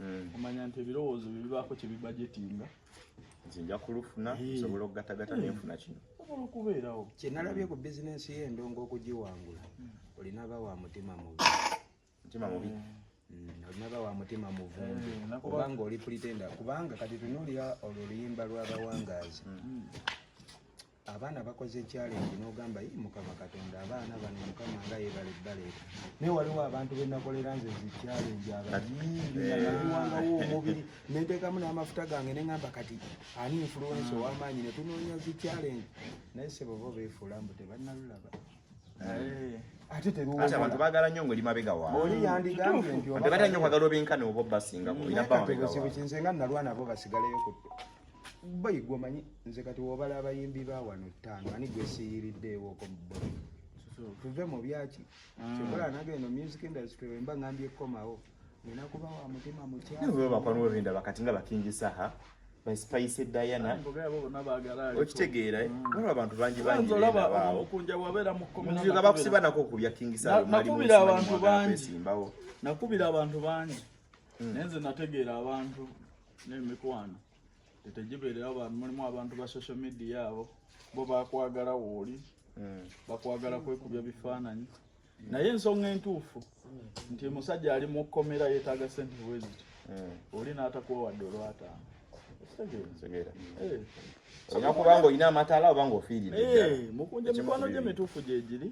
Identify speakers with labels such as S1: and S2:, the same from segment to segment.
S1: Mm. omanya nti ebirowoozo bye bibaako kye bibajetinga nze nja kulufuna nsobola okugatagata nenfuna kino osobola okubeerawo kyenalabye ku
S2: bizinensi ye endongo okugiwangula mm. olina ba wa mutima mubi mutima mubi
S1: mm. olina ba
S2: wa mutima muvundu kubanga oli pulitenda kubanga kati tunuulira olwo luyimba lw'abawangaazi abaana bakoze challenge nogamba yi mukama katonda abaana bano mukama nga yebale baleeta naye waliwo abantu benakolera nze zi challenge abayiiwangawo eh. omubiri nentekamu n'amafuta gange nengamba kati ani influence hmm. owamaanyi netunoonya zi challenge naye sebobo befuula mbu tebanalulaba eh. ate teruwabantu bagala nyo ngoli
S1: mabega waoli yandigambye
S2: nti obata nyo kwagala obinkana
S1: obo basinga kuinabawegawa nze nga nalwa nabo
S2: basigaleyo ku boy gwe omanyi nze kati wobala abayimbi ba wano ttaano ani gwe siyiriddeewoko boy tuve mu byaki mm. kyokola nange eno music industry wemba ngambye kukomawo nina kuba wa mutima mukyabakwanwebindaba
S1: kati nga bakingisa ha baisipayise diana okitegeera eh? mm. waliwo abantu bangi bangiaga
S2: bakusibanako okubya kingisakubira abantu bangi mm. naye nze nategeera abantu n'emikwano tetegibeerera bantu mulimu abantu ba social media abo bo bakwagala wooli hmm. bakwagala kwekubya bifaananyi naye ensonga entuufu nti musajja ali mu kkomera yeetaaga sente bweziti hmm. oli n'atakuwawadde olwataano
S1: olina eh. kubanga olina amataala oba nga ofiiridde eh, mukunja mikwano gye
S2: mituufu gyegiri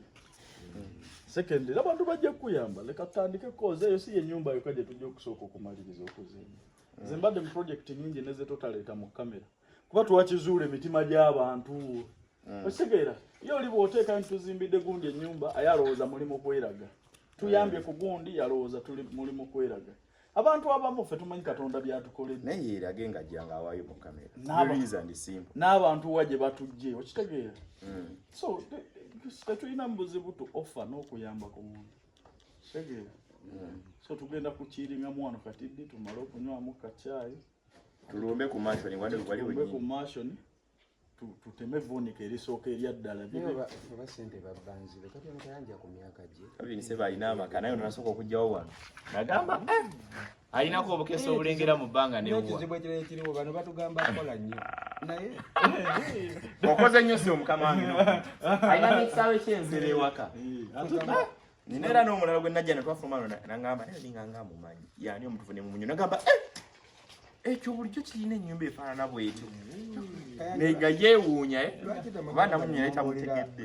S2: Secondly, abantu bajja kuyamba leka tutandike koze eyo si yenyumba yoka gye tujja okusooka okumaliriza okuzimba mm. nze mbadde mu project nyingi neze totaleeta mu kamera kuba twakizuula emitima gy'abantu mm. okitegeera ye oli bw'oteeka nti tuzimbidde gundi ennyumba aye alowooza mulimu kweraga tuyambye mm. ku gundi yalowooza tuli mulimu kweraga abantu abamu ffe tumanyi katonda byatukoledde naye yeerage nga jjanga
S1: awaayo mu kamera
S2: n'abantu wa gye batujje okitegeera hmm. so tetulina mu buzibu tu offa n'okuyamba ku muntu kitegeera hmm. so tugenda kukiiringa mwano katiddi tumale okunywamu kacyayi tulumbe
S1: ku mashoni waliwe ku mashoni
S2: tuteme vuunika erisooka eryaddala oba sente babbanzibe kati ono tayanja ku myaka gye abinise balina amaka
S1: naye onasooka okugjawo wano nagamba eh, alinako obukesa obulengera mu bbanga nekizibu ekirala ekiriwo
S2: bano batugamba akola nnyo naye
S1: okoze nnyo si omukama wange alina nekisaawe kyenzera ewaka eh, nina era n'omulala gwe najja ne twafuluma no nangamba naye ninga nga mumanyi yaani omutufu ne mumunyo nagamba eh! ekyo bulijjo kirina ennyumba efaanana bwetyo mm. naye nga yeewuunya eh? kuba namunyo naye tamutegedde